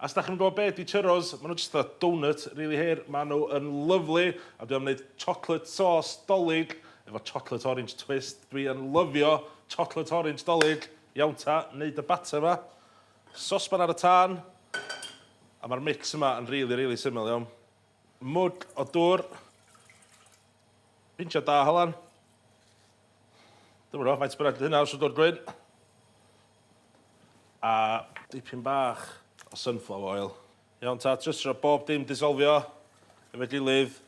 Os dach chi'm yn gwybod be ydi churros, ma' nhw jyst fatha doughnut rili hir, ma' nhw yn lyfli a dwi am neud chocolate sauce Dolig efo chocolate orange twist, dwi yn lyfio chocolate orange Dolig, iawn ta, neud y batter 'ma, sosban ar y tân, a ma'r mix yma yn rili rili syml iawn, mwd o dwr, pinch o da halan, dwi'm yn gwybod faint bynnag 'di hynna os yw'n dwr gwyn. A dipyn bach o sunflower oil. Iawn ta, jyst rho bob dim disolfio efo'i gilydd.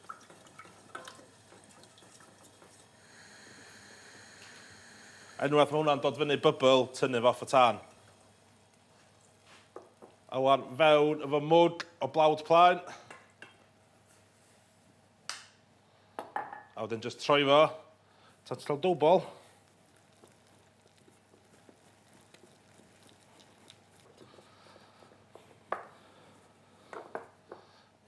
Unwaith mae hwnna'n dod fyny bybl, tynnu fo off y tân. A wan fewn efo mwg o blawd plaen. A wedyn jyst troi fo. Tan ti'n cael dwbl.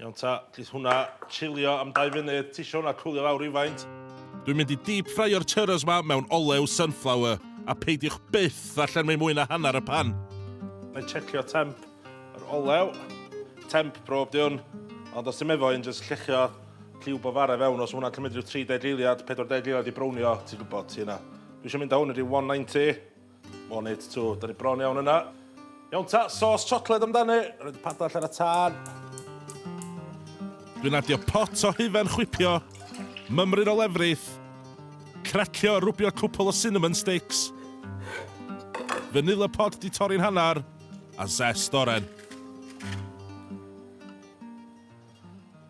Iawn ta, gith hwnna chilio am 2 funud, ti eisiau hwnna cwlio lawr rhywfaint? Dwi'n mynd i deep ffraio'r churros ma mewn olew sunflower, a peidiwch byth ddarllen mwy mwy na hanner y pan. Na i checio temp yr olew. Temp prob di hwn, ond os ti'n meddwl i'n just llechio lliw bofare fewn, os hwnna'n cymryd rhyw 30 eiliad, 40 eiliad i brownio, ti'n gwybod, ti yna. Dwi eisiau mynd awn i ryw 190. One it two, da ni bron iawn yna. Iawn ta, sos chocolate amdani. Rhaid y padall ar y tân. Dwi'n adio pot o hufen chwipio, mymryn o lefrith, cracio a rwbio cwpl o cinnamon sticks, vanilla pod di torri'n hanner, a zest oren.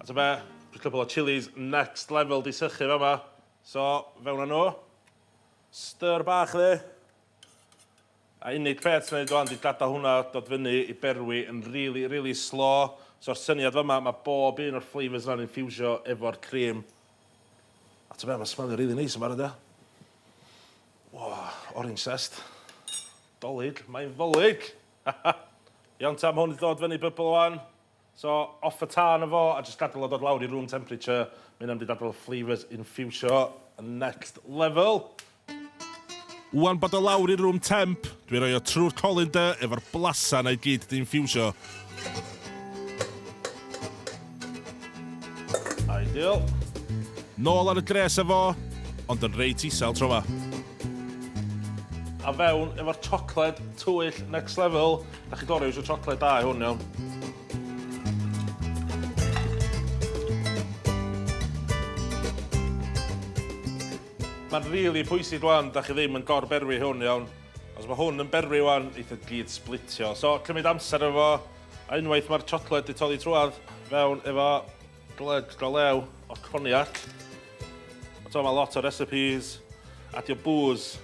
A ta be, just cwpl o chillies next level di sychu fama. So, fewn â nhw. Stir bach dde. A unig peth sy'n neud wan 'di gadael hwnna dod fyny i berwi yn rili, rili slo. So'r syniad fama, mae bob un o'r flavours yna'n infiwsio efo'r cream. A ti'n be, mae'n smelio rili neis yn barod ia. O, orange zest. Dolig, mae'n ddolig! Iawn ta, mae hwn 'di dod fyny bybl wan. So off y tân efo a jyst gadal o dod lawr i room temperature, ma' hynna'n mynd i dadl y flavours infiwsio yn next level. Ŵan bod o lawr i room temp, dwi'n rhoi o trwy'r colander efo'r blasa 'na i gyd 'di infiwsio. Ideal. Nôl ar y gres efo, ond yn reit isel tro 'ma. A fewn efo'r chocolate twyll next level. Da chi gorau yw'r siocled da i hwn, iawn? Mae'n rili really pwysig rwan, da chi ddim yn gor-berwi hwn, iawn? Os mae hwn yn berwi rwan, eitha gyd splitio. So, cymryd amser efo, a unwaith mae'r siocled di toddi trwad, fewn efo gled go lew o coniac. So, mae lot o recipes, adio booze,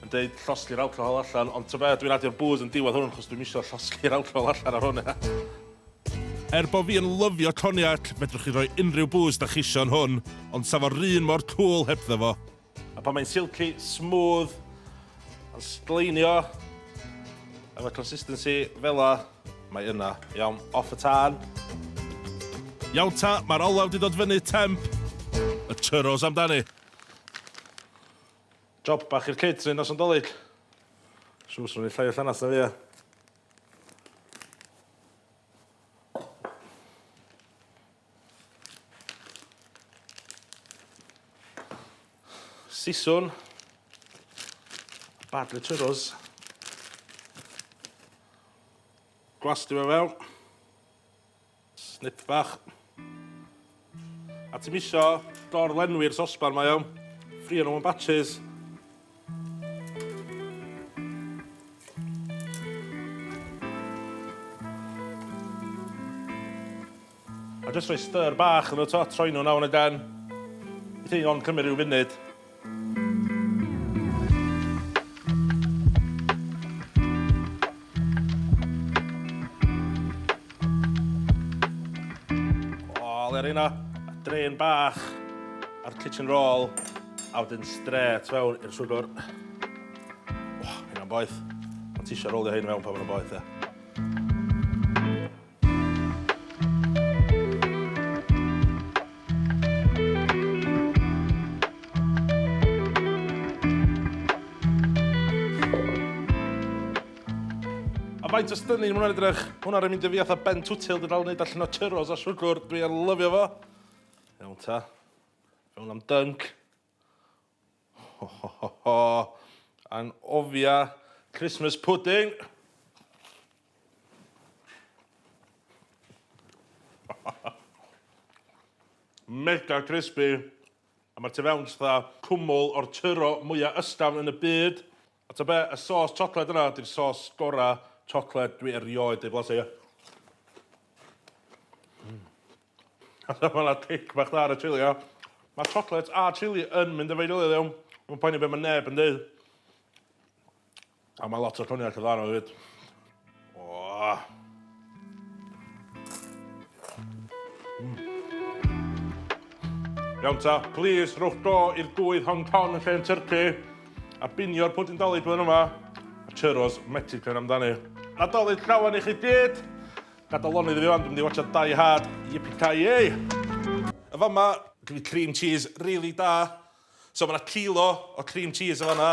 yn deud llosgi'r alcohol allan, ond ta be, dwi'n adio'r bŵs yn diwedd hwn, chos dwi'm isio llosgi'r alcohol allan ar hwn, ia. Er bo fi yn lyfio cognac, fedrwch chi roi unrhyw bŵs dach isio yn hwn, ond sa fo'r un mor cŵl hebddo fo. A pan mae'n silky, smooth, yn sgleinio, efo consistency fela, mae yna. Iawn, off y tân. Iawn ta, mae'r olew di dod fyny, temp. Y churros amdani. Job bach i'r catering nos Nadolig. Siŵr swn i llai o llanast na fi ia? Siswrn. Badly churros. Gwlastio fe fewn. Snip bach. A ti'n misio dor-lenwi'r sosban mae iawn. Ffrio nhw yn batches. A jyst rhoi stir bach yn y to, troi nhw nawr yn y den. Bydd hyn ond cymryd rhyw funud. yna, a drain bach a'r kitchen roll, a wedyn stret fewn i'r swgwr. O, hynna'n boeth. Ond ti eisiau rolio hyn mewn pan mae'n boeth, e. faint o stynnu yn hwnna'n edrych. Hwnna rhaid mynd i fi atho Ben Twtil, dwi dal yn neud allan o churros a siwgr, dwi yn lyfio fo. Iawn ta. Fe hwnna'n dync. Ho ho ho ho! Anghofia Christmas pudding! Mega crispy, a mae'r tu fewn fatha cwmwl o'r tyro mwya ysgafn yn y byd. A ta be, y sos chocolate yna di'r sos gora chocolate dwi erioed ei blasu. Mm. A ta ma na cic bach dda ar y chili ia? Ma chocolate a chili yn mynd efo'i gilydd iawn. Dwi'm yn poeni be ma neb yn deud. A ma lot o coniac yn dda yno hefyd. Oh. Mm. Iawn ta, please, rhowch do i'r gwydd Hong Kong yn lle yn Turkey, a binio'r pwyd yn dalyd blwyddyn yma, a churros Mexican amdani. Nadolig llawan i chi gyd! Gadael lonydd i fi fan, dwi'n mynd i watcha Die Hard, yippee-ki-yay! Y fama, gyda cream cheese, really da. So mae'na kilo o cream cheese o fanna.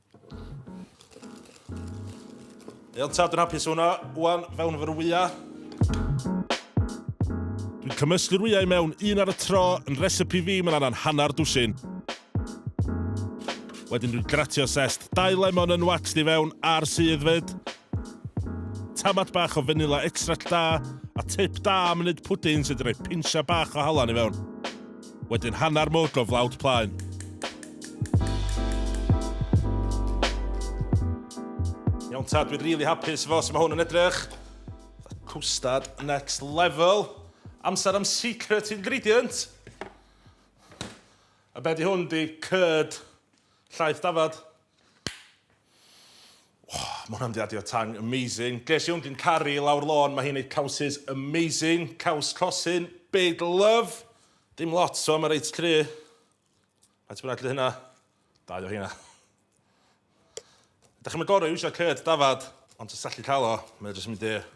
Iawn ta, dwi'n hapus hwnna. Wan, fewn efo'r wyau. Dwi'n cymysgu'r wyau mewn un ar y tro, yn recipe fi mae'n anna'n hanner dwsin. Wedyn dwi'n gratio sest dau lemon yn waxed i fewn a'r sydd fyd. Tamad bach o fanila extract da, a tip da am wneud pwdin sydd yn rhoi pinsiau bach o halan i fewn. Wedyn hanner mwg o flawd plaen. Iawn tad, dwi'n really hapus efo sut mae hwn yn edrych. Cwstad next level. Amser am secret ingredient. A be di hwn di cyrd llaeth dafad? Oh, mae hwnna'n diadio tang, amazing. Ges i hwn, dwi'n caru lawr lôn, mae hi'n neud cawsys amazing. Caws cosin, big love. Dim lot o, mae reit cry. Faint bynnag lle hynna? Dau o hynna. Ydych chi'n gorau eisiau cyrd dafad, ond ti'n sallu cael o, mae'n jyst mynd i'r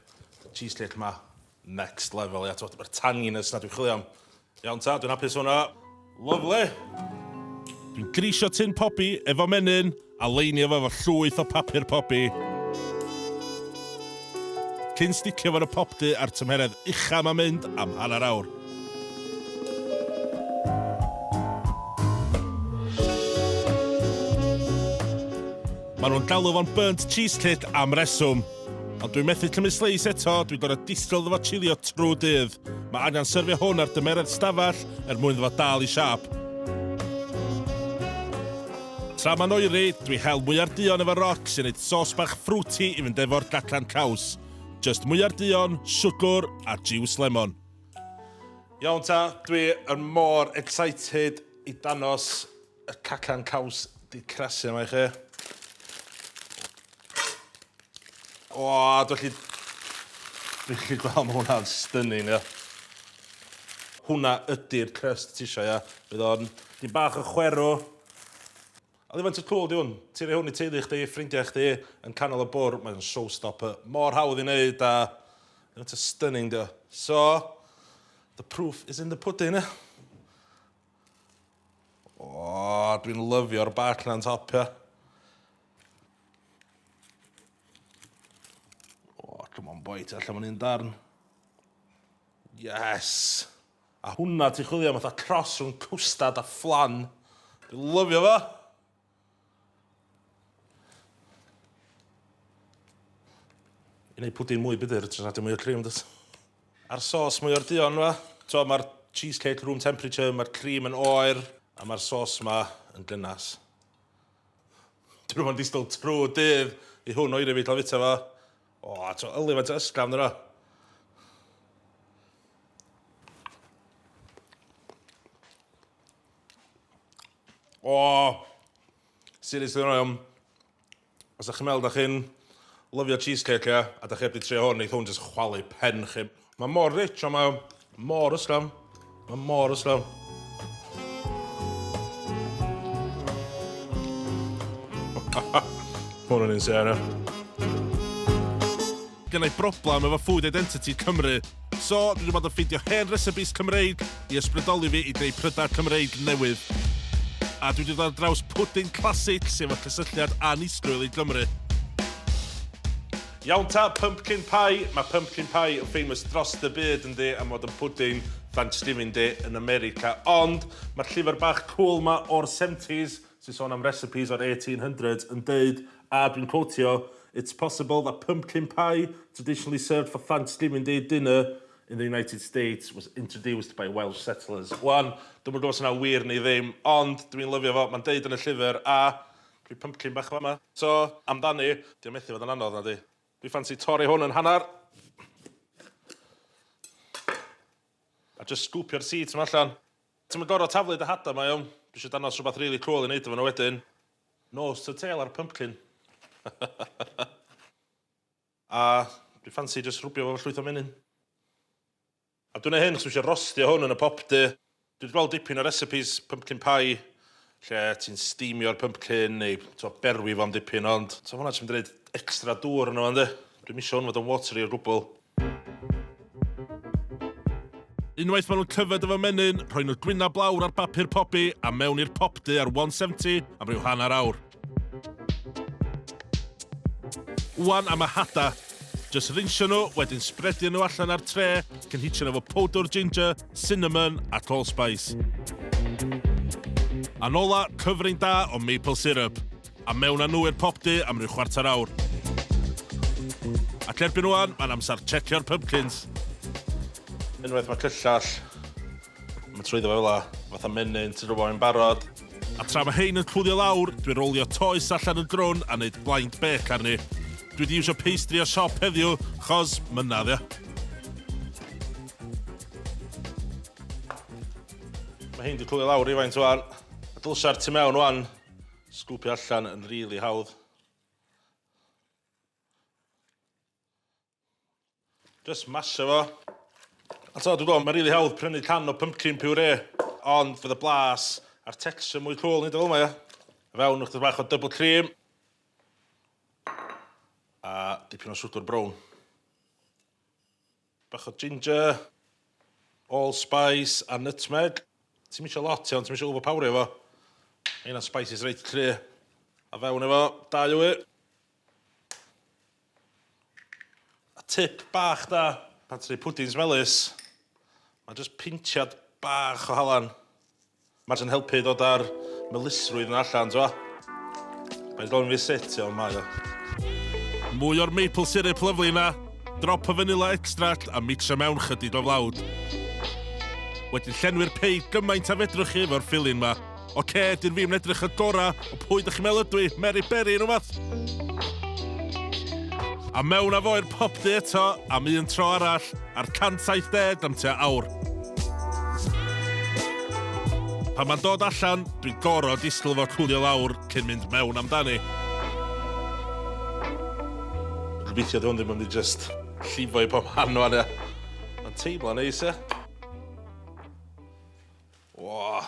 cheesecake yma. Next level ia t'mod yr tanginess 'na dwi'n chwilio am. Iawn ta dwi'n hapus hwnna. Lyfli! Dwi'n grisio tin pobi efo menyn a leinio fo efo llwyth o papur pobi. Cyn sticio fo yn y pop du a'r tymheredd ucha ma'n mynd am hanner awr. Maen nhw'n galw fo'n burnt cheesecake am reswm. Ond dwi methu cymryd sleis eto, dwi'n gorau distral ddo fo chilio trwy dydd. Mae angen syrfio hwn ar dymeredd stafell er mwyn ddo fo dal i siap. Tra mae'n oeri, dwi hel mwyar duon efo roc sy'n neud sos bach fruity i fynd efo'r gacan caws. Just mwyar duon, siwgwr a jiws lemon. Iawn ta, dwi yn mor excited i danos Y cacan caws di crasu yma i chi. O, dwi'n chi... Dwi'n chi gweld mae hwnna'n stunning, ia. Hwna ydy'r crust ti eisiau, ia. Bydd o'n... Di bach o chwerw. A ddim yn tyd cool, di hwn. Ti'n rhoi hwn i teulu chdi, ffrindiau chdi, yn canol y bwr, mae'n showstopper. Mor hawdd i wneud, a... Mae'n stunning, di o. So, the proof is in the pudding, ia. O, dwi'n lyfio'r bac na'n topio. O, come on boi, ti allan fan un darn. Yes! A hwnna ti chwilio am fatha tros rhwng cwstad a fflan. Dwi'n lyfio fo! I neud pwdin mwy bydyr, tros adio mwy o cream dwt. A'r sos mwy o'r duon yma. T'o' ma'r cheesecake room temperature, ma'r cream yn oer, a ma'r sos 'ma yn gynnas. Dwi ddim yn disgwl trw dydd i hwn oeri fi ca'l fita fo. O, a t'o' yli faint o ysgafn ynddo fo. O! Seriously hwnna iawn. Os dach chi'n meddwl dach chi'n lyfio cheesecake ia, a dach chi heb di trio hwn, neith hwn jyst chwalu pen chi. Mae mor rich a mae mor ysgafn. Mae mor ysgafn. Hwn yn insane ia. Gynna i broblem efo food identity Cymru. So, dwi wedi bod yn ffeindio hen recipes Cymreig i ysbrydoli fi i greu prydau Cymreig newydd. A dwi wedi dod ar draws pwdin classic sy efo cysylltiad annisgwyl i Gymru. Iawn ta, pumpkin pie, mae pumpkin pie yn famous drost y byd yndi am fod yn pwdin Thanksgiving Day yn America ond mae'r llyfr bach cwl 'ma o'r seventies sy'n sôn am recipes o'r eighteen hundreds yn deud A dwi'n cotio, It's possible that pumpkin pie, traditionally served for Thanksgiving Day dinner in the United States, was introduced by Welsh settlers. Wan, dwi'm yn gwybod os yna'n wir neu ddim, ond dwi'n lyfio fo, mae'n deud yn y llyfr, a rhyw pumpkin bach yn fama. So, amdani, dio yn methu fod yn anodd, nadi? Dwi ffansi torri hwn yn hanner, a jyst sgwpio'r seeds 'ma allan. Ti'm yn gorfod taflu dy hada, mae o, dwi isio dangos rhywbeth rili cwl i wneud efo nhw wedyn. Nose to tail ar pumpkin. A dwi ffansi jyst rwbio fo efo llwyth o menyn. A dwi'n neud hyn achos dwi eisiau rostio hwn yn y pop du. Dwi wedi gweld dipyn o recipes pumpkin pie lle ti'n steamio'r pumpkin neu t'o' berwi fo'n dipyn ond t'o' ma' hwnna jyst mynd i roid extra dŵr yno fo yndi? Dwi'm isio hwn fod yn watery o gwbwl. Unwaith maen nhw'n tyfed efo menyn, rhoi nhw'r gwynab blawr ar bapur pobi a mewn i'r popdy ar 170 am ryw hanner awr. Wan am y hada. Just rinsio nhw, wedyn spredio nhw allan ar tre, cynhitio nhw efo powdwr ginger, cinnamon a allspice. A'n ola, cyfrin da o maple syrup. A mewn â nhw i'r popty am ryw chwarter awr. Ac erbyn ŵan, mae'n amser tshecio'r pympkins. Unwaith mae cyllell yn mynd trwyddo fe fel 'na, fatha menyn, ti'n rhywfaint yn barod. A tra mae hein yn cwlio lawr, dwi'n rowlio toes allan yn grwn a neud blind bake arni. Dwi 'di iwsio pastry o siop heddiw, 'chos, mynna, ddia. Mae hein 'di cwlio lawr rywfaint ŵan. A dylsai'r tu mewn ŵan. Sgwpio allan yn rili hawdd. Just masio fo. A t'o' dwi gwel' ma' rili hawdd prynu can o pumpkin puree ond fydd y blas a'r texture mwy cŵl neud o fel 'ma ia? I fewn ychydig bach o double cream. A dipyn o swgwr brown. Bach o ginger, allspice a nutmeg. Ti'm isio lot iawn, ti'm isio overpowerio fo. Mae hynna'n spices reit cry'. A fewn efo dau wy. A tip bach da pan ti'n neud pwdins melys, ma' jyst pintiad bach o halan Mae jyst yn helpu i ddod â'r melysrwydd 'na allan, t'mo'? Mae'n gofyn fi sut, iawn, mae o. Mwy o'r maple syrup lyfli 'na, drop o fanilla extract a micsio mewn chydig o flawd. Wedyn llenwi'r pei gymaint a fedrwch chi efo'r filling 'ma. Ocê, dyn fi'm yn edrych y gora, ond pwy dych chi'n meddwl ydw i, Mary Berry neu wbath? A mewn â fo i'r popty eto, am un tro arall. ar 170 am tua awr. Pan mae'n dod allan, dwi'n gorfod disgwyl fo cwlio lawr cyn mynd mewn amdani. Gobeithio dwi hwn ddim yn mynd i just llifo i pob man o'n ia. Mae'n teimlo'n neis ia. Wah.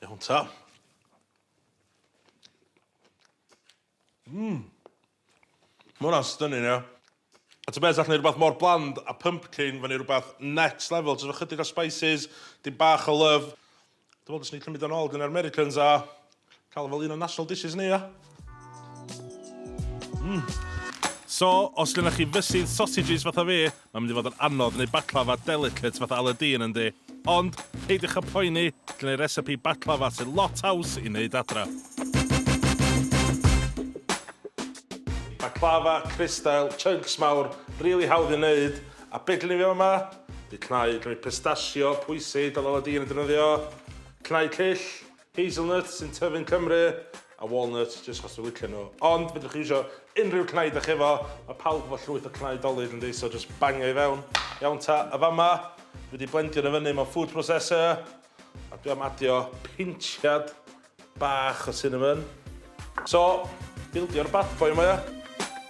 Iawn ta. Mmm. Mae hwnna'n stunning, ia. A ti'n beth, allwn ni rhywbeth mor bland a pumpkin fan i rhywbeth next level, jyst efo chydig o spices, dim bach o love. Dwi'n meddwl dylswn i cymryd o'n ôl gan yr Americans a Cael fel un o national dishes ni, ia? Mm. So, os gennych chi fysydd sausages fatha fi, mae'n mynd i fod yn anodd neu baklava delicate fatha Aladdin yn di. Ond, peidiwch a poeni, gen i recipe baklava sy'n lot haws i wneud adra. Baklava, crystal, chunks mawr, really hawdd i wneud. A be gen i fi yma? Di cnau, gen i pistachio, pwysi, dyl Aladdin yn defnyddio. Cnau cyll. Hazelnuts sy'n tyfu yn Cymru, a walnuts jyst achos dwi'n licio nhw. Ond fedrwch chi iwsio unrhyw cnau dach chi efo, mae pawb efo llwyth o cnau Dolly dyndi, so jyst bangio i fewn. Iawn ta, a fama, dwi wedi blendio nhw fyny mewn food processor, a dwi am adio pinchiad bach o cinnamon. So, bildio'r bad boy yma ia?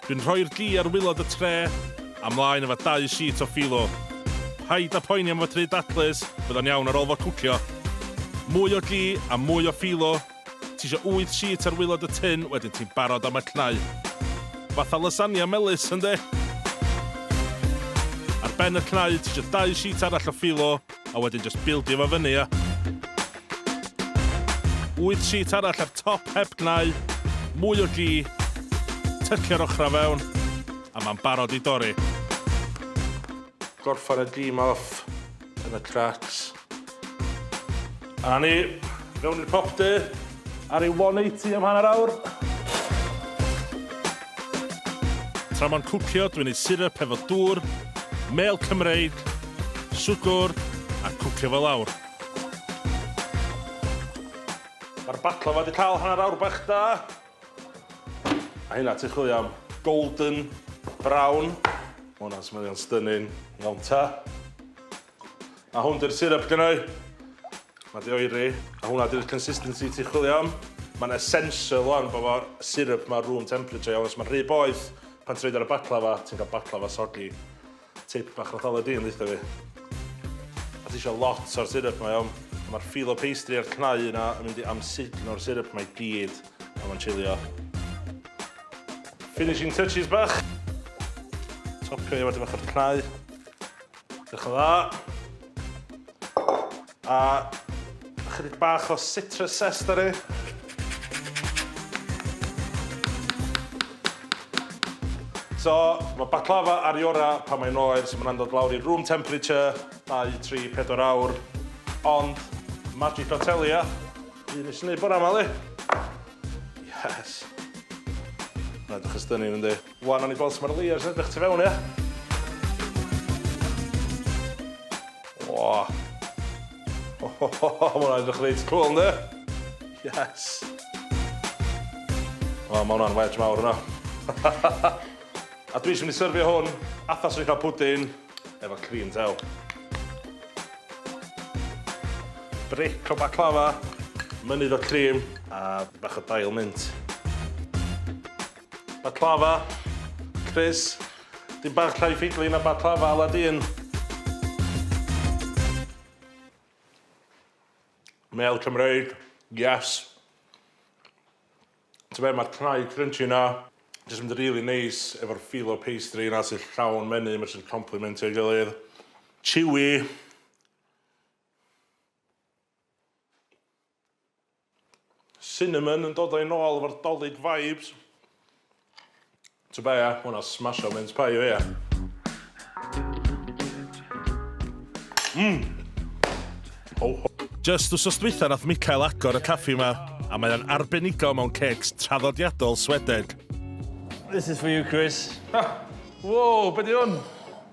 Dwi'n rhoi'r gi ar wilod y tre, a mlaen efo dau sheet o philo. Paid a poeni am fy try dadlys, bydd o'n iawn ar ôl fo cwcio. Mwy o gi a mwy o philo, tisio wyth sheet ar wilod y tin wedyn ti'n barod am y cnau. Fatha lasagna melys, yndi? Ar ben y cnau tisio dau sheet arall o philo, a wedyn jyst bildio fo fyny a... Wyth sheet arall ar top heb gnau, mwy o gi, tycio'r ochrau fewn, a mae'n barod i dorri. Gorffen y dîm off yn y cracks. A 'na ni, i fewn i'r pop du ar ei 180 am hanner awr. Tra mae'n cwcio, dwi'n neud syrup efo dŵr, mêl Cymreig, swgwr, a cwcio fo lawr. Mae'r baklava 'di cael hanner awr bach da. A hynna, ti'n chwilio am golden brown. Ma' hwnna'n smellio'n stunning, iawn ta. A hwn di'r syrup gynnau. Mae di oeri, a hwnna di'r consistency ti'n chwilio am. Mae'n essential o'n bod fo syrup mae room temperature iawn, os mae'n rhy boeth, pan ti'n rhaid ar y baklava, ti'n cael baklava soggy. Tip bach Nadolig di yn ddeitha fi. A ti eisiau lot o'r syrup mae o'n. Mae'r filo pastry a'r cnau yna yn mynd i amsugno'r syrup mae gyd pan mae'n chilio. Finishing touches bach. Topio i efo dipyn bach o'r cnau. Diolch yn dda. A chydig bach o citrus zest ar e. So, mae baklava ar i ora pan mae'n oer, so mae'n dod lawr i room temperature, 2, 3, 4 awr. Ond, magic o telia, un nes i wneud bore yma, li. Yes. Mae'n edrych ystynnu, ynddi? Wan nawn ni gweld su ma'r layers yn edrych tu fewn ia? Wah. Ho ho ho ho, ma hwnna'n edrych reit cwl yndi? Yes. Wel ma hwnna'n wedge mawr yna. A dwi jyst mynd i syrfio hwn atha swn i'n cael pwdin efo cream tail. Bric o baclava, mynydd o cream a bach o dail mint. Baklava, Chris. Dyn bach llai ffidli na baklava ala dyn. Mel Cymreig, yes. Ti'n fe, mae'r cnau crunchy na, jyst mynd really neis efo'r feel o pastry na sy'n llawn menu, mae'n sy'n complementio ei gilydd. Chewy. Cinnamon yn dod â'i nôl efo'r 'Dolig vibes. Tybed be, ma' hwnna'n smasho mince pie i fi, ia. Mmm! Ho ho. Jyst wsos dwytha nath Mikael agor y caffi 'ma, a mae o'n arbenigo mewn cêcs traddodiadol Swedeg. This is for you, Chris. Whoa, be 'di hwn?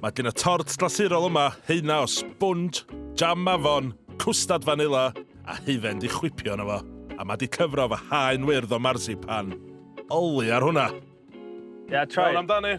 Mae gen y tort glasurol yma heina o sbwnj, jam mafon, cwstad fanila a hufen di chwipio yna fo, a mae di cyfro fy haen wyrdd o marzipan. Oli ar hwnna! Yeah, try. Iawn amdani.